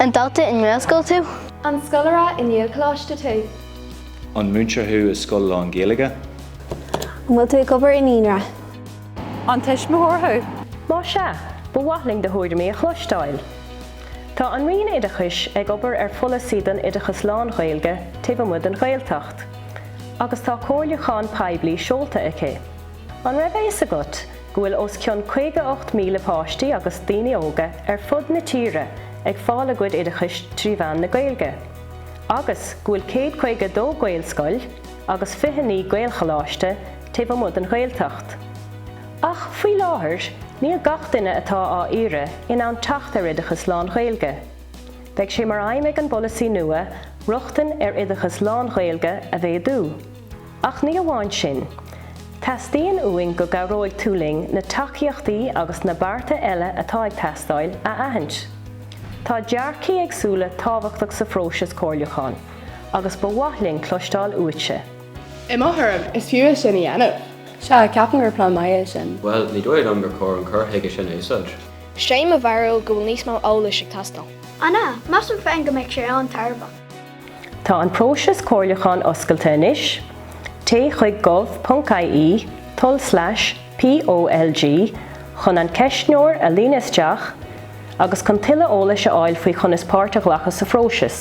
An dalta i nGaelscoil tú? An scoláire i nGaelcholáiste tú? An múinteoir thú i scoil lán-Ghaeilge? An bhfuil tú ag obair i naíonra? An tuismitheoir thú? Má sea, ba mhaith linn do thuairimí a chloisteáil. Tá an Roinn Oideachais ag obair ar pholasaí don oideachas lán-Ghaeilge taobh amuigh den Ghaeltacht, agus tá comhairliúchán poiblí seolta aici. An raibh a fhios agat go bhfuil os cionn 58,000 páistí agus daoine óga ar fud na tíre ag fáil a gcuid oideachais trí mheán na Gaeilge, agus go bhfuil 152 Gaelscoil agus 29 Gaelcholáiste taobh amuigh den Ghaeltacht? Ach faoi láthair níl gach duine atá á iarraidh in ann teacht ar oideachas lán-Ghaeilge. Beidh sé mar aidhm ag an bpolasaí nua rochtain ar oideachas lán-Ghaeilge a mhéadú. Ach ní amháin sin. Teastaíonn uainn go gcabhróidh tú linn na tacaíochtaí agus na bearta eile atá ag teastáil a aithint. Tá dearcthaí éagsúla tábhachtach sa phróiseas comhairliúcháin agus ba mhaith linn cloisteáil uaitse. I mo thuairim, is fiú é sin a dhéanamh. Sea, ceapaim gur plean maith é sin. Bhuel, ní dóigh liom gur chóir an cur chuige sin a úsáid. 'Sé mo bharúil go bhfuil níos mó eolais ag teastáil. An ea? Measaim féin go mbeadh sé an-tairbheach. Tá an próiseas comhairliúcháin oscailte anois. Téigh chuig gov.ie tulslais POLG chun an ceistneoir a líonadh isteach agus chun tuilleadh eolais a fháil faoi chonas páirt a ghlacadh sa phróiseas.